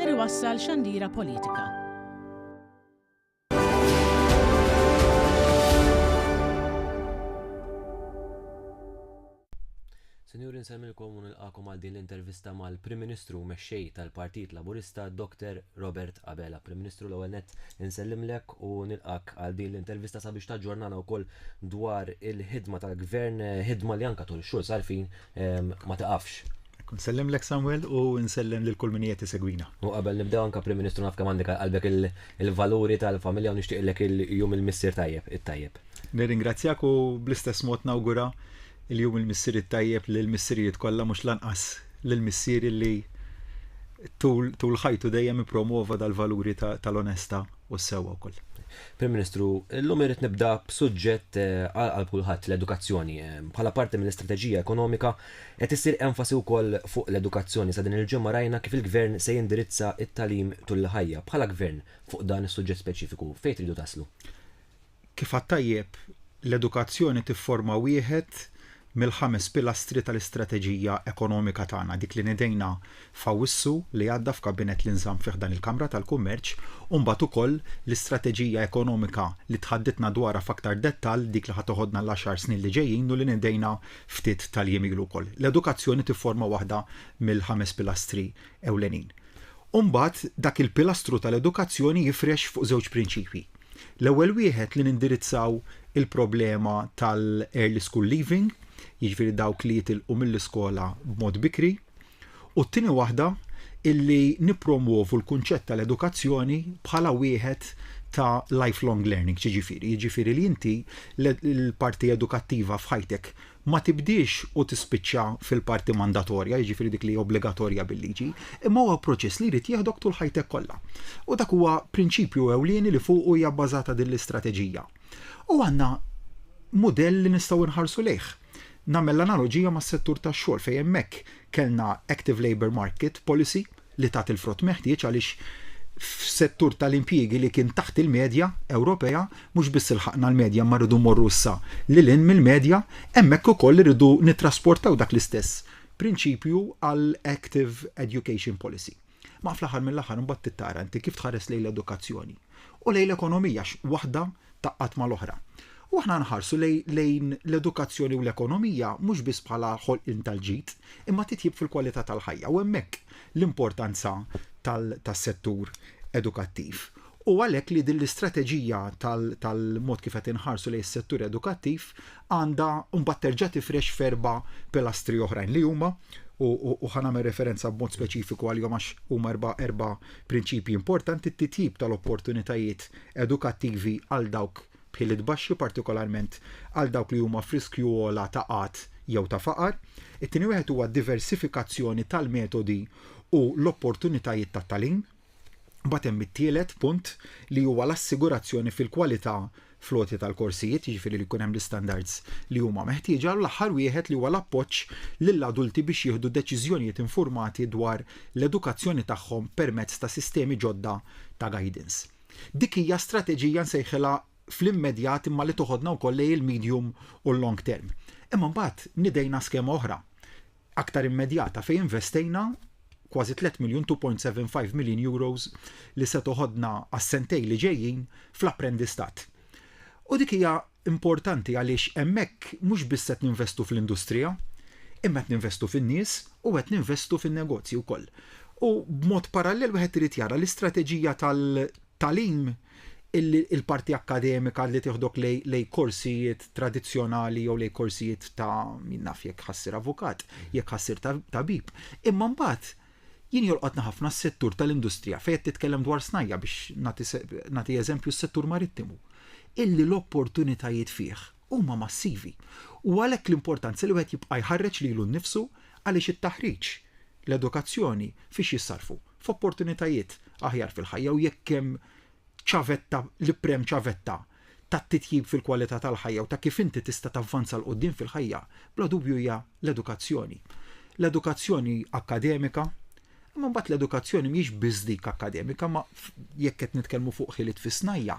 ser iwassal xandira politika. Sinjuri nsemmilkom u nilqakom għal din l-intervista mal-Prim Ministru mexxej tal-Partit Laburista Dr. Robert Abela. Prim Ministru l-ewwel nett insellimlek u nilqak għal din l-intervista sabiex taġġornana wkoll dwar il-ħidma tal-Gvern, ħidma li anka tul xhur sarfin ma taqafx. Nsellem lek Samuel u nsellem lil kull min qiegħed isegwina. U qabel nibdew anke Prim Ministru naf kemm għandek qalbek il-valuri tal-familja u nixtieqlek il-jum il-missier tajjeb, it-tajjeb. Nirringrazzjak u bl-istess mod nawgura il-jum il-missier it-tajjeb lill-missirijiet kollha mhux l-anqas lill-missier li tul ħajtu dejjem ippromwova dal-valuri tal-onesta u sewwa wkoll. Prim Ministru, illum irrid nibda b'suġġett għal qalb kulħadd l-edukazzjoni. Bħala parti mill-istrateġija ekonomika qed issir enfasi wkoll fuq l-edukazzjoni. Sa din il-ġimgħa rajna kif il-Gvern se jindirizza t-tagħlim tul il-ħajja. Bħala Gvern, fuq dan is-suġġett speċifiku, fejn tridu taslu? Kif għad tajjeb, l-edukazzjoni tifforma wieħed mill-ħames pilastri tal-istrateġija ekonomika tagħna, dik li nidejna f'Awwissu li għadda f'Kabinett li nżamm fih dan il-Kamra tal-Kummerċ, u mbagħad ukoll l-istrateġija ekonomika li tħaddidtna dwarha f'aktar dettall, dik li ħa toħodna l-għaxar snin li ġejjin u li nidejna ftit tal-jiem ilu wkoll. L-edukazzjoni tifforma waħda mill-ħames pilastri ewlenin. U mbagħad dak il-pilastru tal-edukazzjoni jifrex fuq żewġ prinċipji. L-ewwel wieħed li nindirizzaw il-problema tal-early school leaving, jiġifieri dawk li jitilqu mill-iskola b'mod bikri, u t-tieni waħda illi nippromwovu l-kunċett tal-edukazzjoni bħala wieħed ta' lifelong learning, x'jiġifieri? Jiġifieri li inti l-parti edukattiva f'ħajtek ma tibdiex u tispiċċa fil-parti mandatorja, jiġifieri dik li hija obbligatorja bil-liġi, imma huwa proċess li jrid jieħdok tul ħajtek kollha. U dak huwa prinċipju ewlieni li fuqu hija bbażata din l-istrateġija. U għandna mudell li nistgħu nħarsu lejh. Nagħmel l-analoġija mas-settur tax-xogħol fejn hemmhekk kellna active labour market policy, li tat il-frott meħtieġ għaliex f'settur tal-impjiegi li kien taħt il-medja Ewropea mhux biss ilħaqna l-medja imma rridu mmorru issa lil hinn mill-medja, hemmhekk ukoll irridu nittrasportaw dak l-istess prinċipju għal active education policy. Ma fl-aħħar mill-aħħar imbagħad trid tara inti kif tħares lejn l-edukazzjoni. u lejn l-ekonomija għax waħda tgħaqqad mal-oħra. U aħna nħarsu lejn l-edukazzjoni u l-ekonomija mhux biss bħala ħolqien tal-ġid, imma titjib fil-kwalità tal-ħajja u hemmhekk l-importanza tas-settur edukattiv. U għalhekk li din l-istrateġija tal-mod kif qed inħarsu lejn is-settur edukattiv għandha mbagħad terġa' tifrex f'erba' pilastri oħrajn li huma, u ħa nagħmel referenza b'mod speċifiku għalihom għax huma erba' prinċipji importanti, t-titjib tal-opportunitajiet edukattivi għal dawk b'ħiliet baxxi, partikolarment għal dawk li huma f'riskju ogħla ta' qgħad jew ta' faqar. It-tieni wieħed huwa d-diversifikazzjoni tal-metodi u l-opportunitajiet tat-tagħlim. Mbagħad hemm it-tielet punt li huwa l-assigurazzjoni fil-kwalità floti tal-korsijiet, jiġifieri li jkun hemm l-istandards li huma meħtieġa, u l-aħħar wieħed li huwa l-appoġġ lill-adulti biex jieħdu deċiżjonijiet infurmati dwar l-edukazzjoni tagħhom permezz ta' sistemi ġodda ta' guidance. Dik hija strateġija nsejħilha fl-immedjat imma li toħodna wkoll lejn il-medium u l-long term. Imma mbagħad nidejna skema oħra. aktar immedjata fejn investejna kważi tliet miljun, €2.75 million, li se toħodna għas-sentejn li ġejjin fl-apprendistat. U dik hija importanti għaliex hemmhekk mhux biss qed ninvestu fl-industrija, imma qed ninvestu fin-nies u qed ninvestu fin-negozji wkoll. U b'mod parallel wieħed irid jara l-istrateġija tal, tagħlim illi l-parti akkademika li tieħdok lejn korsijiet tradizzjonali jew lejn korsijiet ta' min naf jekk ħassir avukat, jekk ħassir tabib. Imma mbagħad jien jolqotna ħafna s-settur tal-industrija fejn qed titkellem dwar snajja biex nagħti eżempju s-settur marittimu illi l-opportunitajiet fih huma massivi u għalhekk l-importanza li wieħed jibqa' jħarreġ lilu nnifsu għaliex it-taħriġ, l-edukazzjoni fiex jissarrfu? F'opportunitajiet aħjar fil-ħajja u jekk hemm ċavetta, l-iprem ċavetta tat-titjib fil-kwalità tal-ħajja u ta' kif inti tista' tavvanza 'l quddiem fil-ħajja, bla dubju hija l-edukazzjoni. L-edukazzjoni akkademika, Imma mbagħad l-edukazzjoni mhijiex biss dik akkademika, ma jekk qed nitkellmu fuq ħiliet fis-snajja,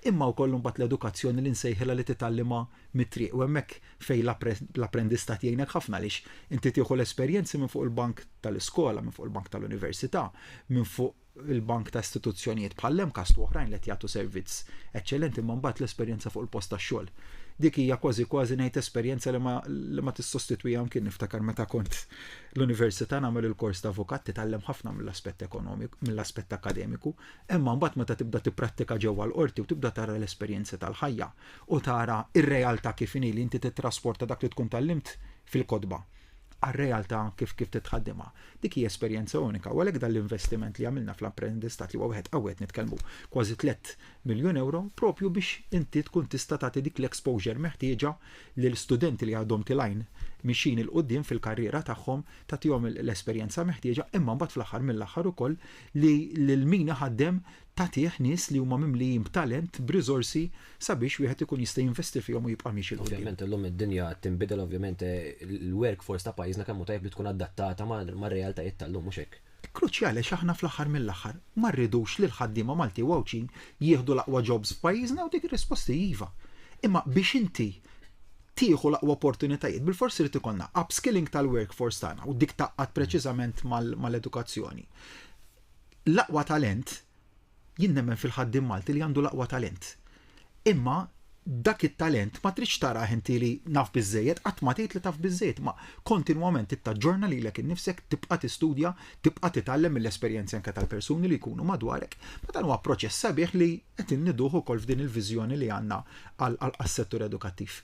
imma wkoll mbagħad l-edukazzjoni li nsejħilha li titgħallimha mit-triq u hemmhekk fejn l-apprendistat jgħinek ħafna għaliex inti tieħu l-esperjenzi minn fuq il-bank tal-iskola, minn fuq il-bank tal-università, minn fuq il-bank ta' istituzzjonijiet bħall-MCAST u oħrajn li qed jagħtu servizz eċċellenti imma mbagħad l-esperjenza fuq il-post tax-xogħol. Dik hija kważi kważi ngħid esperjenza li ma tissostitwihha mkien niftakar meta kont l-università nagħmel il-kors ta' avukat titgħallem ħafna mill-aspett ekonomik, mill-aspett akademiku, imma mbagħad meta tibda tipprattika ġewwa l-qorti u tibda tara l-esperjenzi tal-ħajja u tara r-realtà kif inhi li inti tittrasporta dak li tkun tgħallimt fil-kotba għar-realtà kif kif titħaddimha. Dik hija esperjenza unika u għalhekk dan l-investiment li għamilna fl-apprendistat li huwa wieħed qawwi qed nitkellmu kważi tliet miljun ewro proprju biex inti tkun tista' tagħti dik l-exposure meħtieġa lil studenti li għadhom tilgħin mixjin 'il quddiem fil-karriera tagħhom, tagħtihom l-esperjenza meħtieġa imma mbagħad fl-aħħar mill-aħħar ukoll li lil min iħaddem tagħtih nies li huma mimlijin b'talent, b'riżorsi sabiex wieħed ikun jista' jinvesti fihom u jibqa' miexi 'l quddiem. Ovvjament illum id-dinja qed tinbidel, ovvjament il-workforce ta' pajjiżna kemm hu tajjeb li tkun adattata mar-realtajiet tal-lum, mhux hekk? Kruċjali għax aħna fl-aħħar mill-aħħar ma rridux li l-ħaddiema Malti u Għawdxin jieħdu l-aqwa jobs f'pajjiżna u dik ir-risposta hi iva. Imma biex inti tieħu l-aqwa opportunitajiet bilfors irid ikollna upskilling tal-workforce tagħna u dik tgħaqqad preċiżament mal-edukazzjoni. L-aqwa talent Jien nemmen fil-ħaddiem Malti li għandu l-aqwa talent. Imma dak it-talent ma tridx tarah inti li naf biżżejjed, qatt ma tgħid li taf biżżejjed, imma kontinwament trid taġġorna lilek innifsek, tibqa' tistudja, tibqa' titgħallem mill-esperjenzi anke tal-persuni li jkunu madwarek. Ma dan huwa proċess sabiħ li qed inniduh ukoll f'din il-viżjoni li għandna għas-settur edukattiv.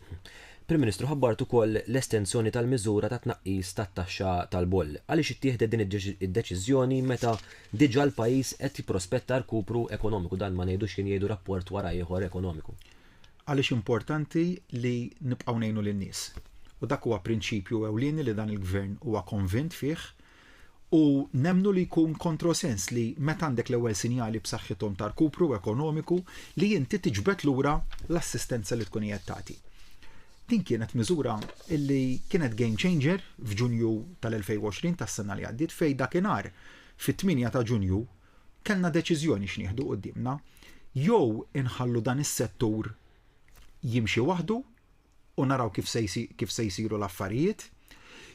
Prim Ministru, ħabbart ukoll l-estensjoni tal-miżura tat-tnaqqis tat-taxxa tal-boll. Għaliex ittieħdet din id-deċiżjoni meta Diġà l-pajjiż qed jipprospetta rkupru ekonomiku, dan ma ngħidux jien jgħidu rapport wara ieħor ekonomiku. Għaliex importanti li nibqgħu ngħinu lin-nies. U dak huwa prinċipju ewlieni li dan il-Gvern huwa konvint fih u nemmnu li jkun kontrosens li meta għandek l-ewwel sinjali b'saħħithom ta' rkupru ekonomiku li inti tiġbed lura l-assistenza li tkun qiegħed tagħti. Din kienet miżura li kienet game changer f'Ġunju tal-2020 tas-sena li għaddiet fejn dakinhar fit-tmienja ta' Ġunju kellna deċiżjoni x'nieħdu quddiemna, jew inħallu dan is-settur jimxi waħdu u naraw kif se jsiru l-affarijiet,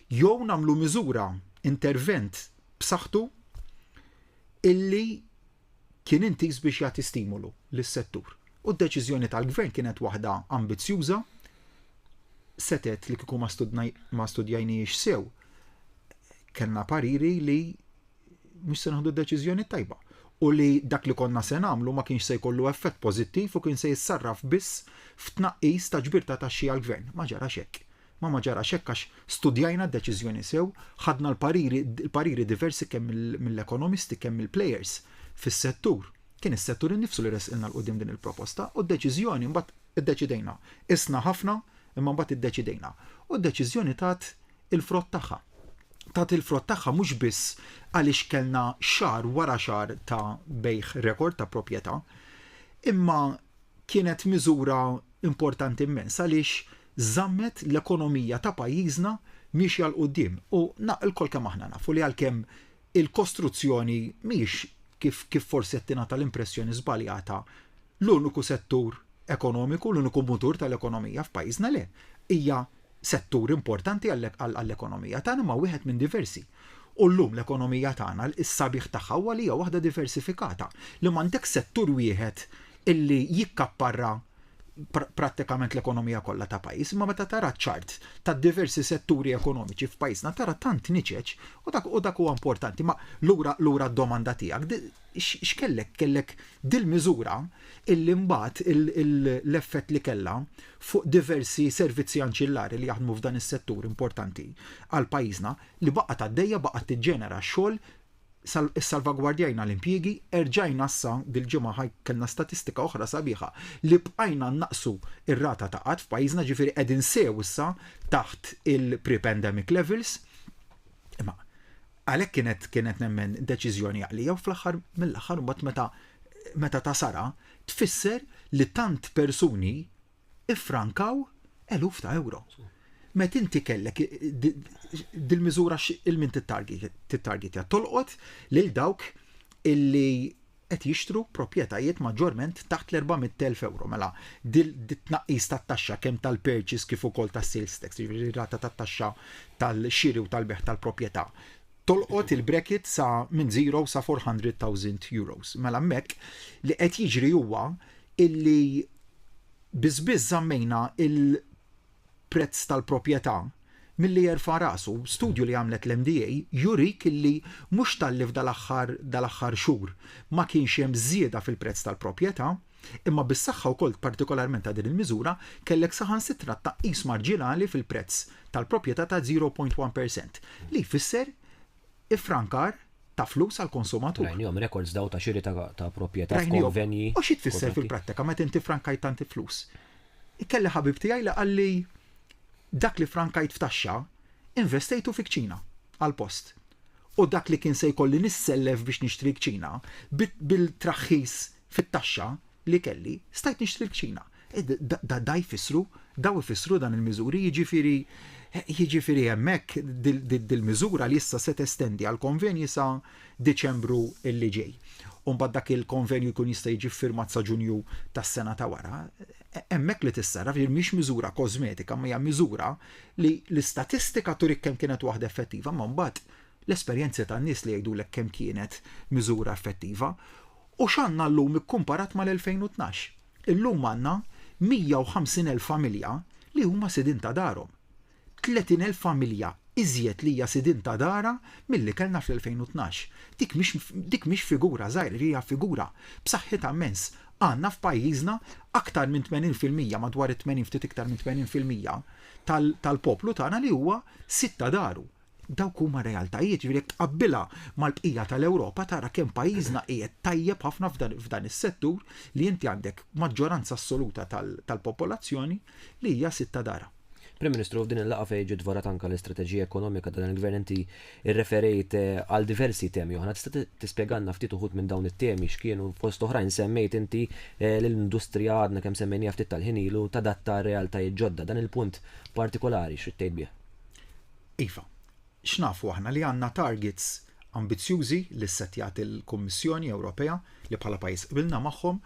jew nagħmlu miżura, intervent b'saħħtu illi kien intiż biex jagħti stimolu lis-settur u d-deċiżjoni tal-Gvern kienet waħda ambizzjuża setgħet li kieku ma studjajniex sew kellna pariri li mhux se naħdu deċiżjoni tajba u li dak li konna se nagħmlu ma kienx se jkollu effett pożittiv u kien se jissarraf biss f'tnaqqis ta' ġbir ta' taxxi għall-Gvern. Ma ġarax hekk. Ma ma ġarax hekk għax studjajna d-deċiżjoni sew, ħadna l-pariri diversi kemm mill-ekonomisti kemm mill-plejers fis-settur. Kien is-settur innifsu li ressqilna 'l quddiem din il-proposta u d-deċiżjoni mbagħad iddeċidejna. Qisna ħafna imma mbagħad iddeċidejna. U d-deċiżjoni tat il-frott tagħha. Tat il-frott tagħha mhux biss għaliex kellna xahar wara xahar ta' bejgħ rekord ta' proprjetà, imma kienet miżura importanti immens għaliex żammet l-ekonomija ta' pajjiżna miexja 'l quddiem u lkoll kemm aħna nafu li għalkemm il-kostruzzjoni mhijiex kif kif forsi qed tingħata l-impressjoni żbaljata l-uniku settur ekonomiku, l-uniku mutur tal-ekonomija f'pajjiżna, le, hija Settur importanti għall-ekonomija tagħna imma wieħed minn diversi. U llum l-ekonomija tagħna s-sabiħ tagħha huwa li hija waħda diversifikata, li m'għandekx settur wieħed illi jikkapparra prattikament l-ekonomija kollha ta' pajjiż, imma meta tara ċ-charts tad-diversi setturi ekonomiċi f'pajjiżna tara tant niċeċ u dak u dak huwa importanti. Ma lura lura d-domanda tiegħek x'kellek kellek dil-miżura illi mbagħad l-effett li kellha fuq diversi servizzi anċillari li jaħdmu f'dan is-settur importanti għal pajjiżna, li baqgħet għaddejja, baqgħet tiġġenera x-xogħol, issalvagwardjajna l-impjiegi, erġajna issa dil-ġimgħa ħa kellna statistika oħra sabiħa li bqajna nnaqqsu r-rata ta' qgħad f'pajjiżna, ġifieri qegħdin sew issa taħt il-pre-pandemic levels. Imma għalhekk kienet kienet nemmen deċiżjoni għaqlija u fl-aħħar mill-aħħar imbagħad meta meta ta' sara tfisser li tant persuni iffrankaw eluf ta' euro. Met inti kellek dil-miżura il-min tittargetja tolqot lil dawk illi qed jixtru proprjetajiet maġġorment taħt l-400,000 euro. Mela, dit-tnaqqis tat-taxxa kemm tal-purchase kif ukoll tas-sales tax, jiġifieri rata tat-taxxa tal-xiri u tal-beħ tal-proprjetà, tolqot il-bracket sa minn zero sa 400,000 euros. Mela hemmhekk li qed jiġri huwa illi biss biss żammejna il-prezz tal-proprjetà milli jerfa' rasu. Studju li għamlet l-MDA jurik illi mhux talli f'dal-aħħar dal-aħħar xhur ma kienx hemm żieda fil-prezz tal-proprjetà, Imma bis-saħħa wkoll partikolarment ta' din il-miżura, kellek saħansitra tnaqqis marġinali fil-prezz tal-proprjetà ta' 0.1 per cent, li jfisser iffrankar ta' flus għall-konsumatur. Rajnihom rekords dawn ta' xiri ta' proprjetà f'konvenji. U xi tfisser fil-prattika meta inti ffrankajt tant flus? Kelli ħabib tiegħi li qalli dak li ffrankajt f'taxxa investejtu fi kċina għall-post. U dak li kien se jkolli nissellef biex nixtri kċina, bil-traħħis fit-taxxa li kelli, stajt nixtri l-kċina. E, da jfissru, daw ifissru dan il-miżuri, jiġifieri jiġifieri hemmhekk dil-miżura li issa se testendi għal konvenji sa Diċembru li ġej. Umbagħad dak il-konvenju jkun jista' jiġi firmat sa Ġunju tas-sena ta' wara. E, hemmhekk li tissarraf jien mhix miżura kosmetika, ma hija miżura li l-istatistika turik kemm kienet waħda effettiva, ma mbagħad l-esperjenzi tan-nies li jgħidulek kemm kienet miżura effettiva U x'għandna llum ikkumparat mal-2012? Illum għandna 150,000 familja li huma sidien ta' darhom. 30,000 familja iżjed li hija sidien ta' darha milli kellna fl-2012. Dik mhix figura żgħira, hija figura b'saħħitha mmens. Għandna f'pajjiżna aktar minn 80 fil-mija, madwar it-80 ftit iktar minn 80 fil-mija tal-poplu tagħna li huwa sid ta' daru. Dawk huma r-realtajiet, jiġifieri jekk tqabbilha mal-bqija tal-Ewropa tara kemm pajjiżna qiegħed tajjeb ħafna f'dan is-settur li inti għandek maġġoranza assoluta tal-popolazzjoni li hija sid ta' darha. Prim Ministru, f'din il-laqgħa fejn ġiet dvorat anke l-istrateġija ekonomika ta' dan il-Gvern inti rreferejt għal diversi temi oħra. Tista' tispjegalna ftit uħud minn dawn it-temi x'kienu? Fost oħrajn semmejt inti l-industrija għadna kemm semmejniha ftit tal-ħin ilu tadatta għar-realtajiet ġodda. Dan il-punt partikolari x'ridt tgħid bih? Iva, x'nafu aħna li għandna targets ambizzjużi li ssettjat il-Kummissjoni Ewropea li bħala pajjiż qbilna magħhom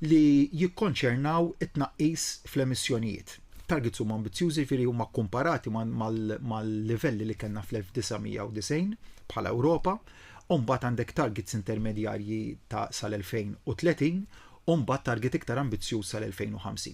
li jikkonċernaw it-tnaqqis fl-emissjonijiet. Targets huma ambizzjużi jiġifieri huma kkumparati mal-livelli li kellna fl-1990 bħala Ewropa, u mbagħad għandek targets intermedjarji ta' sal-2030 u mbagħad target iktar ambizzjuż sal-2050.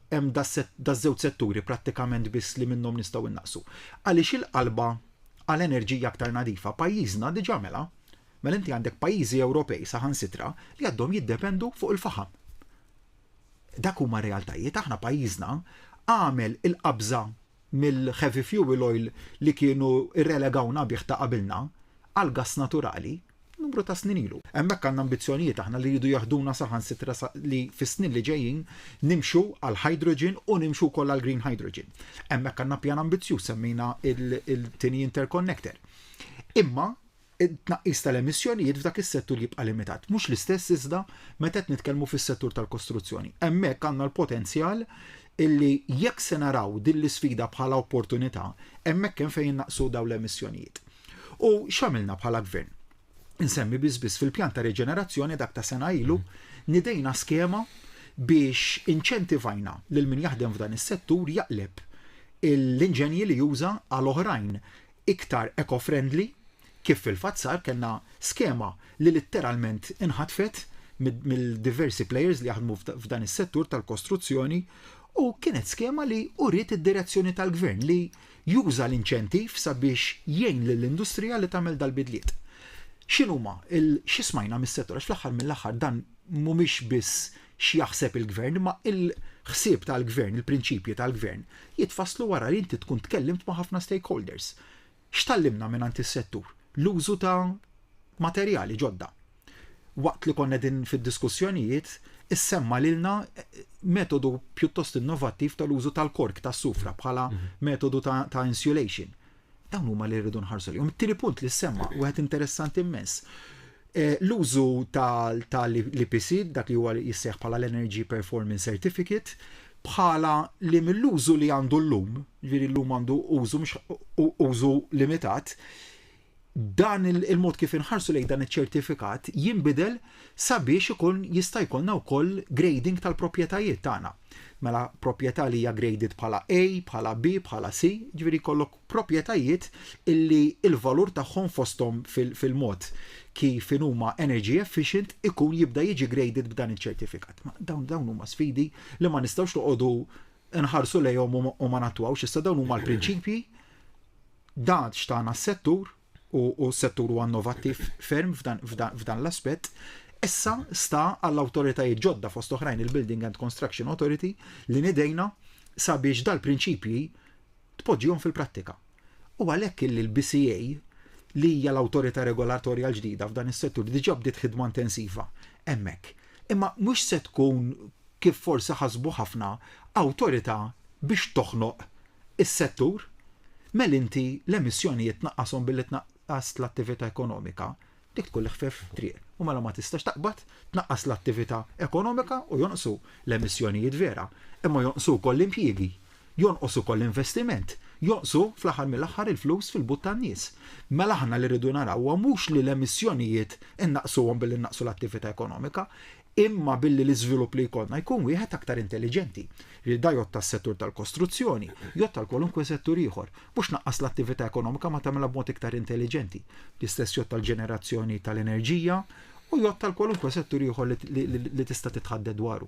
hemm daż-żewġ setturi prattikament biss li minnhom nistgħu innaqqsu. Għaliex il-qalba għal enerġija aktar nadifa pajjiżna diġà għamilha. Mela inti għandek pajjiżi Ewropej saħansitra li għadhom jiddependu fuq il-faħam. Dak huma realtajiet, aħna pajjiżna għamel il-qabża mill-heavy fuel oil li kienu rrelegawna bih ta' qabilna għall-gass naturali numru ta' snin ilu. Hemmhekk għandna ambizzjonijiet aħna li jridu jaħduna saħansitra li fis-snin li ġejjin nimxu għal hydrogen u nimxu wkoll għal green hydrogen. Hemmhekk għandna pjan ambizzjuż semmejna il-tieni interconnector. Imma it-tnaqqis tal-emissjonijiet f'dak is-settur jibqa' limitat. Mhux l-istess iżda meta qed nitkellmu fis-settur tal-kostruzzjoni. Hemmhekk għandna l-potenzjal illi jekk se naraw din l-isfida bħala opportunità, hemmhekk hemm fejn innaqsu dawn l-emissjonijiet. U x'għamilna bħala Gvern? Insemmi biss biss fil-pjan ta' riġenerazzjoni dak ta' sena ilu nidejna skema biex inċentivajna lil min jaħdem f'dan is-settur jaqleb l-inġenji li juża għal oħrajn iktar eco-friendly kif fil-fatt sar kellna skema li litteralment inħatfet mill-diversi players li jaħdmu f'dan is-settur tal-kostruzzjoni u kienet skema li uriet id-direzzjoni tal-Gvern li Juża l-inċentiv sabiex jgħin lill-industrija li tagħmel dal-bidliet. X'inhuma il xi smajna mis-settur għax fl-aħħar mill-aħħar dan mhumiex biss x'jaħseb il-Gvern imma il-ħsieb tal-Gvern, il-prinċipji tal-Gvern jitfasslu wara li inti tkun tkellimt ma' ħafna stakeholders. X'tgħallimna mingħand is-settur? L-użu ta' materjali ġodda. waqt li konna din fid-diskussjonijiet, issemma lilna metodu pjuttost innovattiv tal-użu tal-kork tas-sufra bħala mhm. metodu ta', ta insulation. Dawn huma li rridu nħarsu li. It-tieni punt li semma, wieħed interessanti immens. Eh, l-użu tal-IPC, dak li huwa jisseħ bħala l-Energy Performance Certificate, bħala li mill-użu li għandu l-lum, ġviri l-lum għandu użu limitat, dan il-mod kif inħarsu lejn dan iċ-ċertifikat jinbidel sabiex ikun jista' jkollna wkoll grading tal-proprjetajiet tagħna. Mela proprjetà li hija graded bħala A, bħala B, bħala C, ġifieri jkollok proprjetajiet illi l-valur tagħhom fosthom fil-mod kif huma energy efficient ikun jibda jiġi graded b'dan iċ-ċertifikat. Dawn dawn huma sfidi li ma nistgħux noqogħdu nħarsu lejhom u ma nattwawx issa dawn huma l-prinċipji Dan xtaqna s-settur u s-settur huwa innovattiv ferm f'dan l-aspett. Issa sta għall-awtoritajiet ġodda fost oħrajn il-Building and Construction Authority li nidejna sabiex dal-prinċipji tpoġġihom fil-prattika. U għalhekk illi l-BCA li hija l-awtorità regolatorja l-ġdida f'dan is-settur diġà bdiet ħidma intensiva hemmhekk Imma mhux se tkun, kif forsi ħasbu ħafna, awtorità biex toħnoq is-settur. Mel inti l-emissjonijiet tnaqqashom billi tnaqqas l-attività ekonomika, dik tkun l-iħfief triq. U mela ma tistax taqbad tnaqqas l-attività ekonomika u jonqsu l-emissjonijiet vera, imma jonqsu wkoll l-impjiegi. Jonqos ukoll l-investiment. Jonqsu, fl-aħħar mill-aħħar, il-flus fil-but tan-nies. Mela aħna li rridu naraw huwa mhux li l-emissjonijiet innaqqsuhom billi nnaqqsu l-attività ekonomika, imma billi l-iżvilupp li jkollna jkun wieħed aktar intelliġenti. Li da jgħodd għas-settur tal-kostruzzjoni, jgħodd għal kwalunkwe settur ieħor. Mhux tnaqqas l-attività ekonomika ma tagħmilha b'mod iktar intelliġenti. L-istess jgħodd għall-ġenerazzjoni tal-enerġija u jgħodd għal kwalunkwe settur ieħor li tista' titħadded dwaru.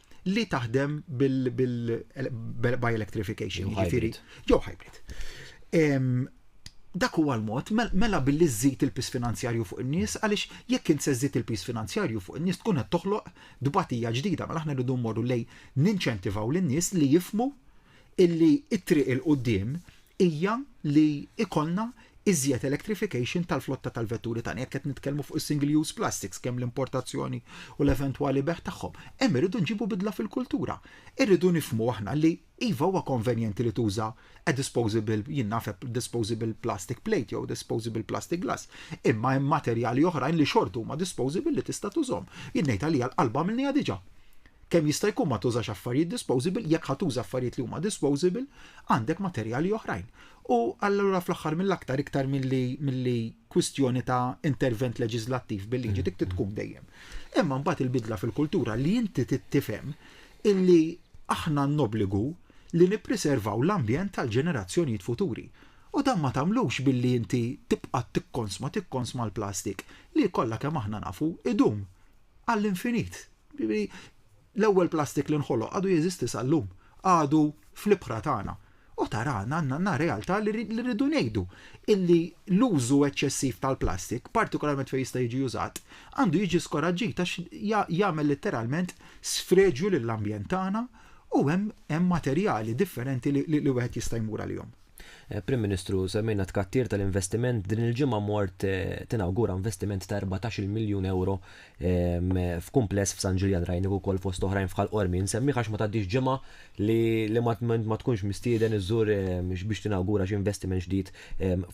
li taħdem bil-by electrification, ġifiri, jew hybrid. Dak huwa l-mod, mela billi żżid il-pis finanzjarju fuq in-nies, għaliex jekk int se żżid il-pis finanzjarju fuq in-nies tkun qed toħloq dbatija ġdida, mela aħna rridu mmorru lej ninċentivaw lin-nies li jifmu illi t-triq 'il quddiem hija li jkollna iżjed electrification tal-flotta tal-vetturi tagħna. Jekk qed nitkellmu fuq is-single use plastics, kemm l-importazzjoni u l-eventwali bejgħ tagħhom, hemm irridu nġibu bidla fil-kultura. Irridu nifhmu aħna li iva huwa konvenjenti li tuża a disposable, jien naf a disposable plastic plate jew a disposable plastic glass, imma hemm materjali oħrajn li xorta huma disposable li tista' tużhom. Jien ngħid għalija l-qalb għamilniha diġà. Kemm jista' jkun ma tużax affarijiet disposable, jekk ħa tuża affarijiet li huma disposable, għandek materjali oħrajn. U allura fl-aħħar mill-aktar iktar milli milli kwistjoni ta' intervent leġiżlattiv bil-liġi dik trid tkun dejjem. Imma mbagħad il-bidla fil-kultura li inti trid tifhem illi aħna għandna obbligu li nippriservaw l-ambjent għall-ġenerazzjonijiet futuri. U dan ma tagħmlux billi inti tibqa' tikkonsma tikkonsma l-plastik li kollha kemm aħna nafu idum għall-infinit. Jiġifieri, l-ewwel plastik li nħoloq għadu jeżisti sal-lum, għadu fl-ibħra tagħna. U tara għandna realtà li rridu ngħidu illi l-użu eċċessiv tal-plastik, partikolarment fejn jista' jiġi użat, għandu jiġi skoraġġit għax jagħmel litteralment sfreġju lill-ambjent tagħna u hemm materjali differenti li wieħed jista' jmur għalihom. Prim Ministru, semmejna t-tkattir tal-investiment, din il-ġimgħa mort tinawgura investiment ta' erbatax-il miljun ewro f'kumpless f'San Ġiljan, rajnik ukoll fost oħrajn f'Ħal Qormi. Insemmih għax ma tgħaddix ġimgħa li ma tkunx mistieden iżżur biex tinawgura xi investiment ġdid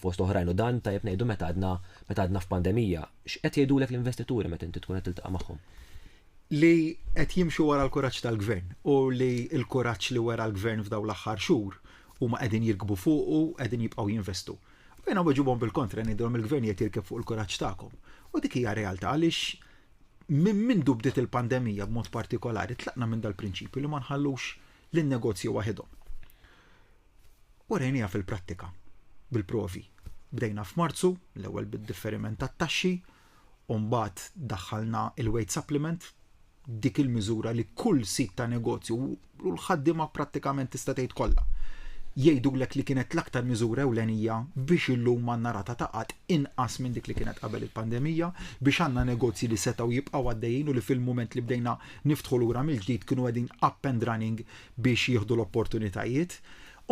fost oħrajn u dan, tajjeb ngħidu meta għadna meta għadna f'pandemija. X'qed jgħidulek l-investituri meta inti tkun qed tiltaqa' magħhom? Li qed jimxu wara l-kuraġġ tal-Gvern u li l-kuraġġ li wera l-Gvern f'dawn l-aħħar xhur huma qegħdin jirkbu fuqu, qegħdin jibqgħu jinvestu. U jiena nweġibhom bil-kontra ngħidilhom il-Gvern qiegħed jirkeb fuq il-kuraġġ tagħkom. U dik hija r-realtà għaliex minn mindu bdiet il-pandemija b'mod partikolari tlaqna minn dal-prinċipju li ma nħallux lin-negozji waħedhom. U rejniha fil-prattika, bil-provi. Bdejna f'Marzu, l-ewwel bid-differiment tat-taxxi, u mbagħad daħħalna il-weight supplement, dik il-miżura li kull sit ta' negozju u l-ħaddima prattikament tista' tgħid kollha. Jgħidulek li kienet l-aktar miżura ewlenija biex illum għandna rata ta' qatt inqas minn dik li kienet qabel il-pandemija, biex għandna negozji li setgħu jibqgħu għaddejjin u li fil-mument li bdejna niftħu lura mill-ġdid kienu qegħdin up and running biex jieħdu l-opportunitajiet.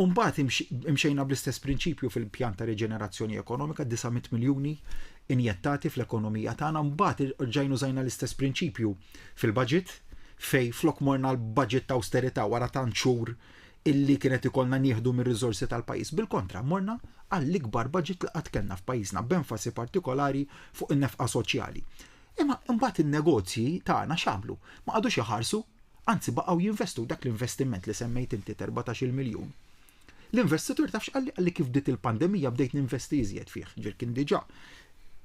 U mbagħad imxejna bl-istess prinċipju fil-pjan ta' riġenerazzjoni ekonomika 900 miljuni injettati fl-ekonomija tagħna, mbagħad rġajn użajna l-istess prinċipju fil-budget fej flok morna l-budget ta' austerità wara tant xhur illi kienet ikollna nieħdu mir-riżorsi tal-pajjiż. Bil-kontra, morna għall-ikbar budget li qatt kellna f'pajjiżna b'enfasi partikolari fuq in-nefqa soċjali. Imma mbagħad in-negozji tagħna x'għamlu? Ma qagħdux iħarsu Anzi baqgħu jinvestu dak l-investiment li semmejt inti t'erbatax-il miljun. L-investitur taf x'qalli? Qalli kif bdiet il-pandemija bdejt ninvesti iżjed fih, ġifier kien diġà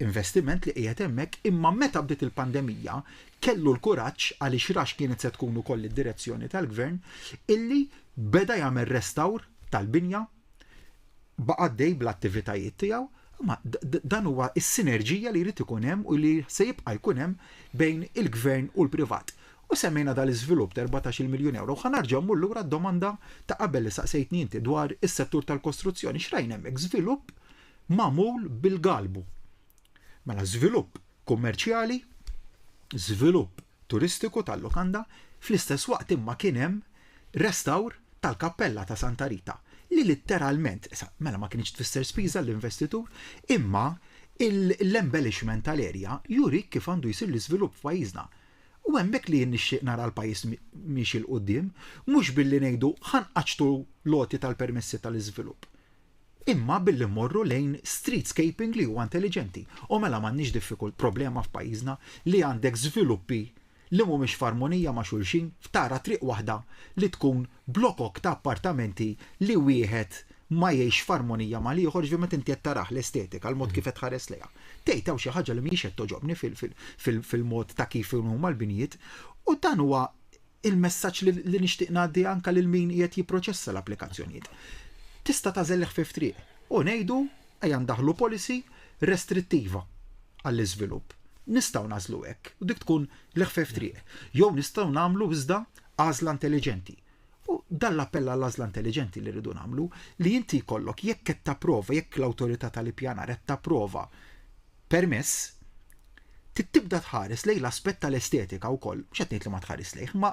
investiment li qiegħed hemmhekk imma meta bdiet il-pandemija kellu l-kuraġġ, għaliex ra x'kienet se tkun ukoll id-direzzjoni tal-Gvern, illi beda jagħmel restawr tal-binja, baqa' għaddej bl-attivitajiet tiegħu, imma dan huwa s-sinerġija li jrid ikun hemm u li se jibqa' jkun hemm bejn il-Gvern u l-privat. U semmejna dal-iżvilupp ta' erbatax-il miljun ewro u ħa nerġa' mmur lura għad-domanda ta' qabel li saqsejtni inti dwar is-settur tal-kostruzzjoni. X'rajna hemmhekk? Żvilupp magħmul bil-galbu. Mela żvilupp kummerċjali, żvilupp turistiku tal-lukanda, fl-istess waqt imma kien hemm restawr tal-kappella ta' Santa Rita li litteralment, issa mela ma kinitx tfisser spiża għall-investitur, imma l-embellishment tal-erja jurik kif għandu jsir l-iżvilupp f'pajjiżna. U hemmhekk li jien nixtieq nara l-pajjiż miexi 'l quddiem, mhux billi ngħidu ħa nqaċċtu l-għoti tal-permessi tal-iżvilupp, imma billi mmorru lejn streetscaping li huwa intelliġenti. U mela m'għandniex diffikult, problema f'pajjiżna li għandek żviluppi li mhumiex f'armonija ma' xulxin, f'tara triq waħda li tkun blokok ta' appartamenti li wieħed ma jgħixx f'armonija mal-ieħor, jiġifieri meta inti qed tarah, l-estetika, l-mod kif qed tħares lejha, tgħid hawn xi ħaġa li mhijiex qed togħġobni fil-mod ta' kif huma l-binjiet, u dan huwa l-messaġġ li nixtieq ngħaddi anke lil min qiegħed jipproċessa l-applikazzjonijiet. Tista' tagħżel l-ħfief triq u ngħidu ejja ndaħħlu policy restrittiva għall-iżvilupp. Nistgħu nagħżlu hekk u dik tkun l-ħfief triq. Jew nistgħu nagħmlu iżda għażla intelliġenti. U dan l-appell għal għażla intelliġenti li rridu nagħmlu li inti jkollok jekk qed tapprova jekk l-awtorità tal-ippjanar qed tapprova permess tibda tħares lejn l-aspett tal-estetika wkoll, mhux qed ngħid li ma tħares lejh, ma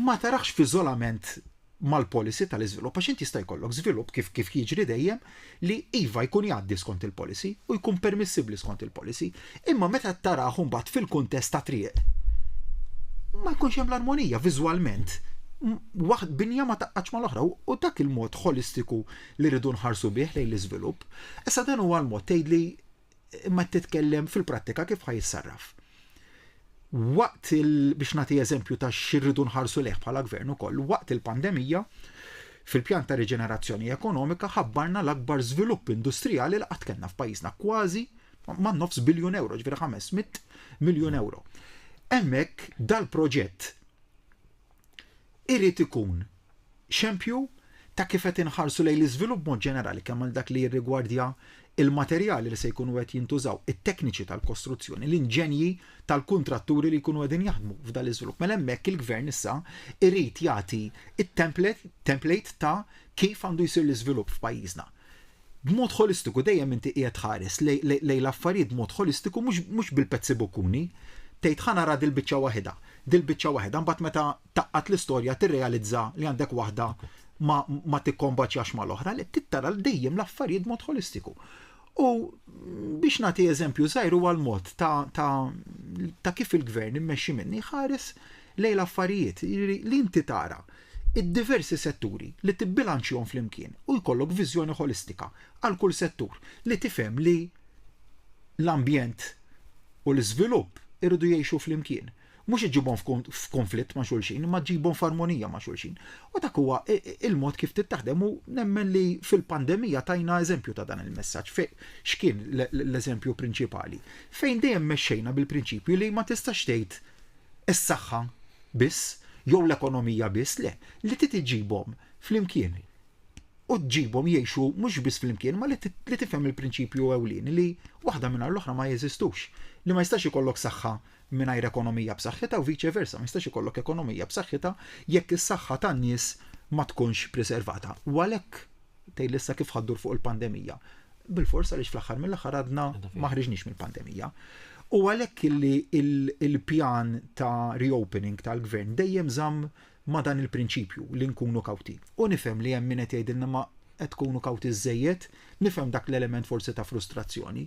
ma tarax f'iżolament mal-policy tal-iżvilupp għax int jista' jkollok żvilupp kif kif jiġri dejjem li iva jkun jgħaddi skont il-policy u jkun permissibbli skont il-policy, imma meta tarah imbagħad fil-kuntest ta' triq ma jkunx hemm l-armonija viżwalment waħd binja ma taqqax mal-oħra u dak il-mod ħolistiku li rridu nħarsu bih lejn l-iżvilupp. Issa dan huwa l-mod tgħidli imma titkellem fil-prattika kif ħajissarraf. Waqt il biex nagħti eżempju ta' xirridu nħarsu leħ bħala gvern ukoll, waqt il-pandemija fil-pjan ta' riġenerazzjoni ekonomika ħabbarna l-akbar żvilupp industrijali li qatt kellna f'pajjiżna kważi ma' nofs biljun euro, ġveri 500 miljun euro. Hemmhekk dal-proġett irid ikun xempju ta' kif qed inħarsu lejn l-iżvilupp b'mod ġenerali kemm għal dak li jirrigwardja l-materjali li se jkunu qed jintużaw, it-tekniċi tal-kostruzzjoni, l-inġenji tal-kuntratturi li jkunu qegħdin jaħdmu f'dan l-iżvilupp. Mela hemmhekk il-Gvern issa irid jagħti t-template ta' kif għandu jsir l-iżvilupp f'pajjiżna. B'mod ħolistiku dejjem inti qiegħed tħares lejn l-affarijiet b'mod ħolistiku mhux bil-pezzi bukkuni. Tgħid ħa nara dil-biċċa waħidha, dil-biċċa waħidha, mbagħad meta tgħaqqad l-istorja tirrealizza li għandek waħda ma, ma tikkombaċjax mal-oħra, li tittara dejjem l-affarijiet b'mod ħolistiku. U biex nagħti eżempju żgħir huwa l-mod ta', ta, ta kif il-gvern immexxi minni ħares lejn l-affarijiet li inti tara id-diversi setturi, li tibbilanċjhom flimkien u jkollok viżjoni ħolistika għal kull settur, li tifhem li l-ambjent u l-iżvilupp iridu jgħixu flimkien. Mhux iġġibhom f'kunflitt ma' xulxin, imma ġġibhom f'armonija ma' xulxin. U dak huwa l-mod kif trid taħdem u nemmen li fil-pandemija tajna eżempju ta' dan il-messaġġ. X'kien l-eżempju prinċipali? Fejn dejjem mexxejna bil-prinċipju li ma tistax tgħid is-saħħa biss jew l-ekonomija biss, le, li trid iġġibhom flimkien u ġġibhom jgħixu mhux biss flimkien ma li tifhem il-prinċipju ewlieni li waħda mingħajr l-oħra ma jeżistux, li ma jistax ikollok saħħa mingħajr ekonomija b'saħħitha u viċe versa, ma jistax ikollok ekonomija b'saħħitha jekk is-saħħa tan-nies ma tkunx preservata. U għalhekk tgħid issa kif ħaddur fuq il-pandemija. Bil-forsa li fl-aħħar mill-aħħar għadna ma ħriġniex mill-pandemija. U għalhekk illi il-pjan ta' reopening tal-gvern dejjem żamm ma' dan il-prinċipju li nkunu kawti. U nifhem li hemm min qed jgħidilna ma qed tkunu kawti żejjed, nifhem dak l-element forsi ta' frustrazzjoni.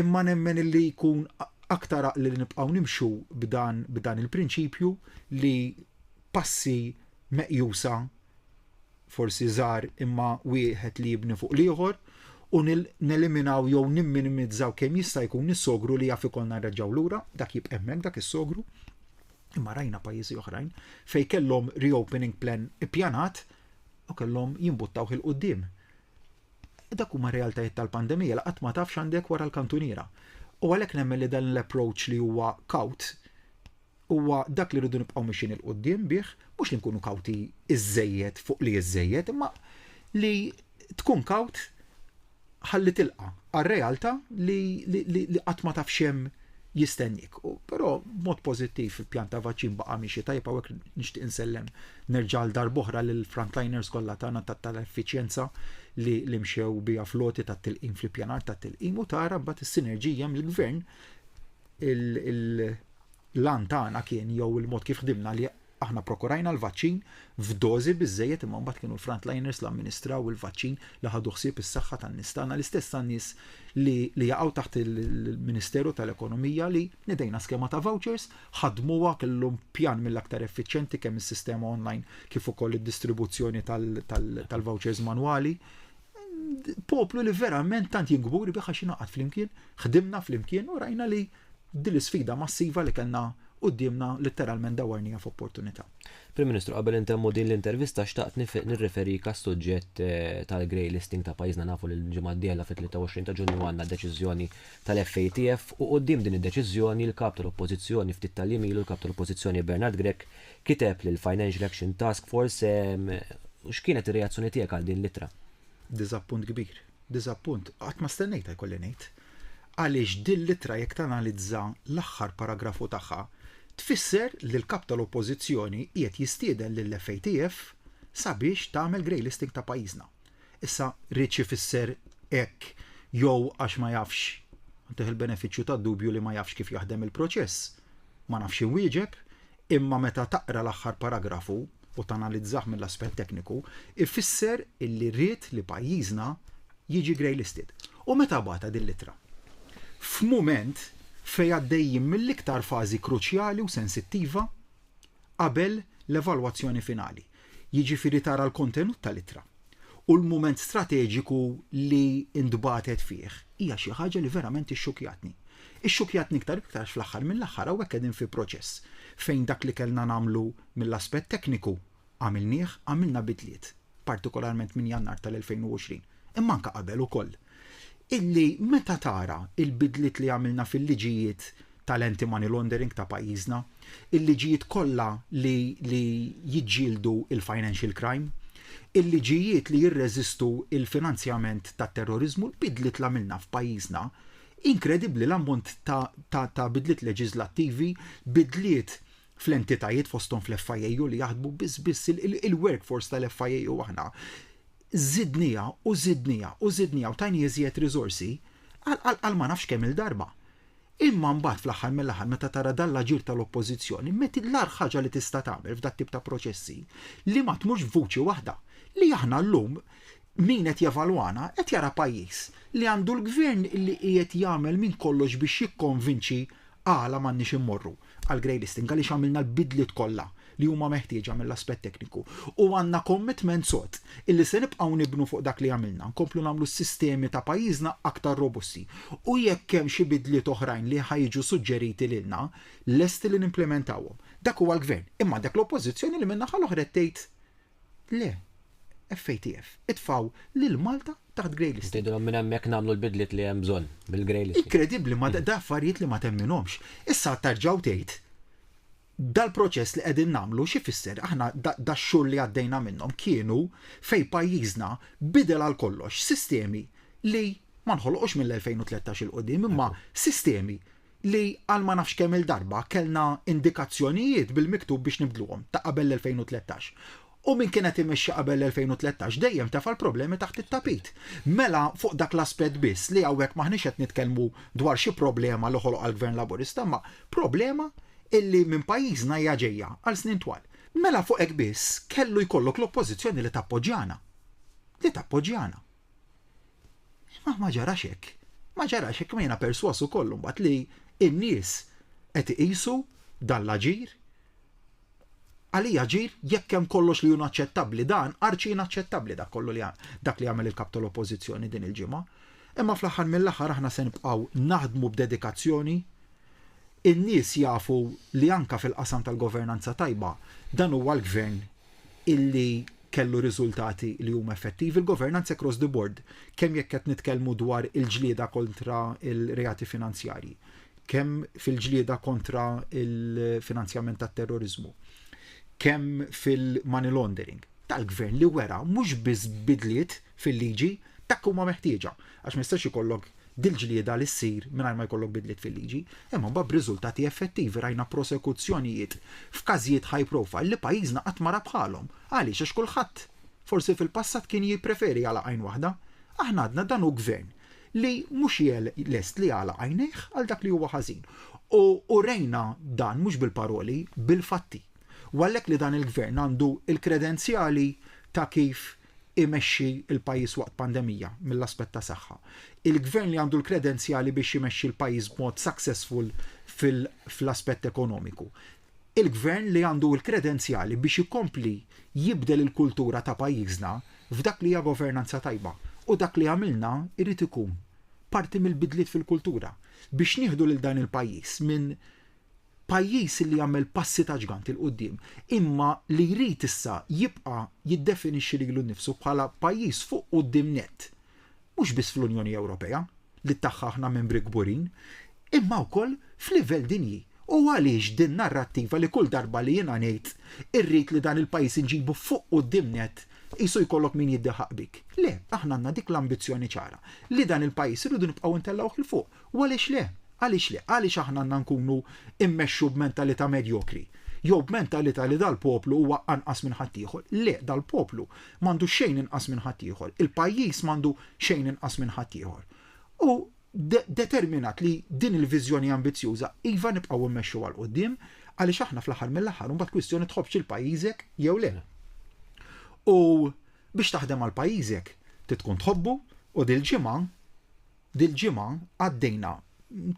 Imma nemmen illi jkun aktar aqli li nibqgħu nimxu b'dan b'dan il-prinċipju li passi meqjusa forsi żgħar imma wieħed li jibni fuq l-ieħor u neliminaw jew nimminimizzaw kemm jista' jkun is-sogru li jaf ikollna nreġgħu lura, dak jibqa' hemmhekk dak is-sogru. Imma rajna pajjiżi oħrajn fejn kellhom reopening plan ippjanat u kellhom jimbuttaw il qudiem Dak huma realtajiet tal-pandemija li qatt ma tafx għandek wara l-kantuniera. U għalhekk nemmen li dan l-approach li huwa kaut Huwa dak li rridu nibqgħu mixjin 'il quddiem bih, mhux li nkunu kawti iżżejjed fuq li iżżejjed, imma li tkun kawt ħalli tilqa' għar-realtà li li qatt ma taf x'hemm jistenniek. Però b'mod pożittiv il-pjan ta' vaċċin baqa' miexi tajjeb hawnhekk nixtieq insellem nerġa' għal darb'oħra lill-frontliners kollha tagħna tal-effiċjenza li li mxew biha floti tat-tilqim fl-ippjanar tat-tilqim u tara mbagħad is-sinerġija mill-gvern il L-għan tagħna kien jew il-mod kif ħdimna li aħna prokurajna l-vaċċin f'dożi biżżejjed imma mbagħad kienu l-frontliners li amministraw il-vaċċin li ħadu ħsieb is-saħħa tan-nies tagħna l-istess tan-nies li li jaqgħu taħt il-Ministeru tal-Ekonomija li nidejna skema ta' vouchers ħadmuha kellhom pjan mill-aktar effiċjenti kemm is-sistema online kif ukoll id-distribuzzjoni tal-vouchers manwali poplu li verament tant jingburi biħa xinaqat flimkien, ħdimna flimkien u rajna li Din l-isfida massiva li kellna quddiemna litteralment dawwarniha f'opportunità. Prim Ministru, qabel intemmu din l-intervista xtaqt nirreferik għas-suġġett tal-grey listing ta' pajjiżna. Nafu li l-ġimgħa d-dieħla fit-23 ta' Ġunju għandna deċiżjoni tal-FATF u quddiem din id-deċiżjoni l-Kap tal-Oppożizzjoni ftit tal-jiem ilu l-Kap tal-Oppożizzjoni Bernard Grech kiteb lill-Financial Action Task Force. X'kienet ir-reazzjoni tiegħek għal din l-ittra? Diżappunt kbir. Diżappunt, qatt ma stennejtha jkolli ngħid, għaliex dil-ittra jekk tanalizza l-aħħar paragrafu tagħha tfisser li l-Kap tal-Oppożizzjoni qiegħed jistieden lill-FATF sabiex tagħmel grey listing ta' pajjiżna. Issa riedx ifisser hekk jew għax ma jafx, ntih il-benefiċċju tad-dubju li ma jafx kif jaħdem il-proċess, ma nafx inwieġeb, Imma meta taqra l-aħħar paragrafu u tanalizzah mill-aspett tekniku, ifisser illi ried li pajjiżna jiġi greylisted. U meta bagħatha din l-ittra? F'mument fejn għaddejjin mill-iktar fażi kruċjali u sensittiva qabel l-evalwazzjoni finali. jiġifieri tara l-kontenut tal-ittra u l-mument strateġiku li ntbagħtet fih, hija xi ħaġa li verament ixxukjatni. Ixxukjatni iktar u iktar għax fl-aħħar mill-aħħar hawnhekk qegħdin fi proċess fejn dak li kellna nagħmlu mill-aspett tekniku għamilnieh, għamilna bidliet, partikolarment minn Jannar tal-2020, imma anke qabel ukoll, illi meta tara l-bidliet li għamilna fil-liġijiet tal-anti-money laundering ta' pajjiżna, il-liġijiet kollha li li jiġġieldu l-financial crime, il-liġijiet li jirreżistu l-finanzjament tat-terroriżmu, l-bidliet li għamilna f'pajjiżna, inkredibbli l-ammont ta' ta' ta' bidliet leġiżlattivi, bidliet fl-entitajiet fosthom fl-FIAU li jaħdmu biss biss il-workforce tal-FIAU aħna żidniha u żidniha u żidniha u tajni iżjed riżorsi għal ma nafx kemm-il darba. Imma mbagħad fl-aħħar mill-aħħar meta tara dan l-aġir tal-Oppożizzjoni, met l-agħar ħaġa li tista' tagħmel f'dat tip ta' proċessi li ma tmurx b'vuċi waħda li aħna llum min qed jevalwana qed jara pajjiż li għandu l-Gvern li qiegħed jagħmel minn kollox biex jikkonvinċi għala m'għandniex immorru. għal grey listing għaliex għamilna l-bidliet kollha li huma meħtieġa mill-aspett tekniku u għandna commitment sod illi se nibqgħu nibnu fuq dak li għamilna, nkomplu nagħmlu s-sistemi ta' pajjiżna aktar robusti u jekk hemm xi bidliet oħrajn li ħa jiġu suġġeriti lilna, lesti li nimplimentawhom. Dak huwa l-Gvern, imma għandek l-Oppożizzjoni li min-naħa l-oħra qed tgħid Le, FATF, itfgħu lil Malta taħt grey listing. Tgħidilhom minn hemmhekk nagħmlu l-bidliet li hemm bżonn bil-grey listing. Inkredibbli ma da affarijiet li ma temminhomx. Issa terġgħu tgħid dal-proċess li qegħdin nagħmlu xi fisser aħna dax-xhur li għaddejna minnhom kienu fejn pajjiżna bidel għal kollox sistemi li ma nħolqux mill-2013 'il quddiem imma sistemi li għal ma nafx kemm-il darba kellna indikazzjonijiet bil-miktub biex nibdluhom, ta' qabel l-2013. U min kien qed imexxi qabel l-2013 dejjem tefa' l-problemi taħt it-tapit. Mela fuq dak l-aspett biss li hawnhekk m'aħniex qed nitkellmu dwar xi problema li ħoloqha l-Gvern Laburista imma problema illi minn pajjiżna hija ġejja għal snin twal. Mela fuq hekk biss kellu jkollok l-Oppożizzjoni li tappoġġjana. Li tappoġġjana. Ma ma ġarax hekk. Ma ġarax hekk ma jiena perswas ukoll imbagħad li n-nies qed iqisu dan l-aġir għalija aġir jekk hemm kollox li hu naċċettabbli dan arċi inaċċettabbli dak kollu li dak li għamel il-kap tal-Oppożizzjoni din il-ġimgħa. Imma fl-aħħar mill-aħħar aħna se nibqgħu naħdmu b'dedikazzjoni in-nies jafu li anka fil-qasam tal-governanza tajba dan huwa l-gvern illi kellu riżultati li huma effettivi l-governanza across the board, kemm jekk qed nitkellmu dwar il-ġlieda kontra il-reati finanzjarji, kemm fil-ġlieda kontra il-finanzjament tat-terrorizmu, kemm fil-money laundering tal-gvern li wera mhux biss bidliet fil-liġi dak huma meħtieġa. għax ma jistax ikollok dil-ġlieda li ssir mingħajr ma jkollok bidliet fil-liġi, imma mbagħad b'riżultati effettivi rajna prosekuzzjonijiet f'każijiet high profile li pajjiżna qatt ma ra bħalhom. Għaliex? Għax kulħadd, forsi fil-passat kien jippreferi jagħlaq għajn waħda. Aħna għadna dan hu gvern li mhux lest li jagħlaq għajnejh għal dak li huwa ħażin. U urejna dan mhux bil-paroli, bil-fatti. U għalhekk li dan il-gvern għandu l-kredenzjali ta' kif imexxi l-pajjiż waqt pandemija mill-aspett ta' saħħa. Il-gvern li għandu l-kredenzjali biex imexxi l-pajjiż b'mod successful fl-aspett ekonomiku. Il-gvern li għandu l-kredenzjali biex ikompli jibdel il-kultura ta' pajjiżna f'dak li hija governanza tajba. U dak li għamilna jrid ikun parti mill-bidliet fil-kultura biex nieħdu lil dan il-pajjiż minn pajjiż li għamel passi ta' ġgant 'il quddiem, imma li jrid issa jibqa' jiddefinixxi lilu nnifsu bħala pajjiż fuq quddiem nett, mhux biss fl-Unjoni Ewropea, li tagħha aħna membri kburin, imma wkoll f'livell dinji. U għaliex din narrattiva li kull darba li jiena ngħid irrid li dan il-pajjiż inġibu fuq quddiem nett, qisu jkollok min jiddiħaq bik. Le, aħna għandna dik l-ambizzjoni ċara li dan il-pajjiż irridu nibqgħu ntellgħuh 'il fuq. U għaliex le? Għaliex le? Għaliex aħna għandna nkunu mmexxu b'mentalità medjokri? Jew b'mentalità li dal-poplu huwa anqas minn ħaddieħor? Le, dal-poplu m'għandu xejn inqas minn ħaddieħor. Il-pajjiż m'għandu xejn inqas minn ħaddieħor. U determinat li din il-viżjoni ambizzjuża iva nibqgħu mmexxuha 'l quddiem għaliex aħna fl-aħħar mill-aħħar imbagħad kwistjoni tħobbx lil pajjiżek jew le. U biex taħdem għal pajjiżek trid tkun tħobbu u dil-ġimgħa Dil-ġimgħa għaddejna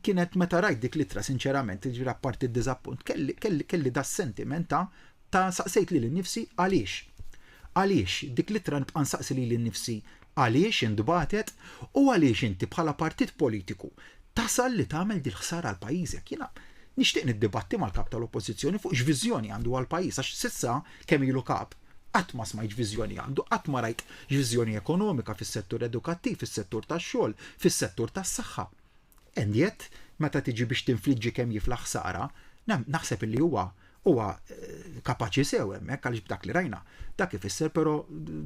kienet meta rajt dik l-ittra sinċerament, jiġifieri apparti d-diżappunt, kelli, kelli, kelli das-sentiment ta' ta' saqsejt lili nnifsi għaliex. Għaliex, dik l-ittra nibqa' nsaqsi lili nnifsi għaliex intbagħtet u għaliex inti bħala partit politiku tasal li tagħmel dil-ħsara għal pajjiżek. Jiena nixtieq niddibatti mal-Kap tal-Oppożizzjoni fuq x'viżjoni għandu għall-pajjiż għax s'issa kemm ilu Kap Qatt ma smajt x'viżjoni għandu, qatt ma rajt x'viżjoni ekonomika fis-settur edukattiv, fis-settur tax-xogħol, fis-settur tas-saħħa. And yet, meta tiġi biex tinfliġġi kemm jifla ħsara, naħseb illi huwa huwa kapaċi sew hemmhekk għaliex b'dak li rajna. Dak ifisser però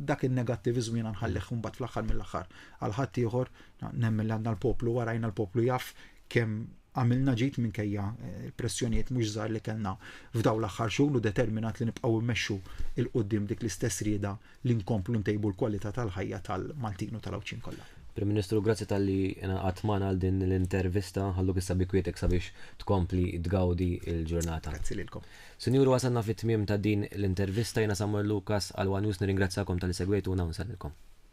dak in-negattiviżmu jiena nħallih imbagħad fl-aħħar mill-aħħar għal ħaddieħor nemmen li għandna l-poplu warajna l-poplu jaf kemm Għamilna ġid minkejja l-pressjonijiet mhux żgħar li kellna f'dawn l-aħħar xhur u determinat li nibqgħu mmexxu 'l quddiem dik l-istess rieda li nkomplu ntejbu l-kwalità tal-ħajja tal-Maltin u tal-Għawdxin kollha. Prim Ministru, grazzi talli ingħaqadt magħna għal din l-intervista. Nħalluk issa bi kwiettek sabiex tkompli tgawdi l-ġurnata. Grazzi lilkom. Sinjuri, wasalna fit-tmiem ta' din l-intervista. Jiena Samuel Lucas għal one News nirringrazzjakom talli segwejtuna u nsellmilkom.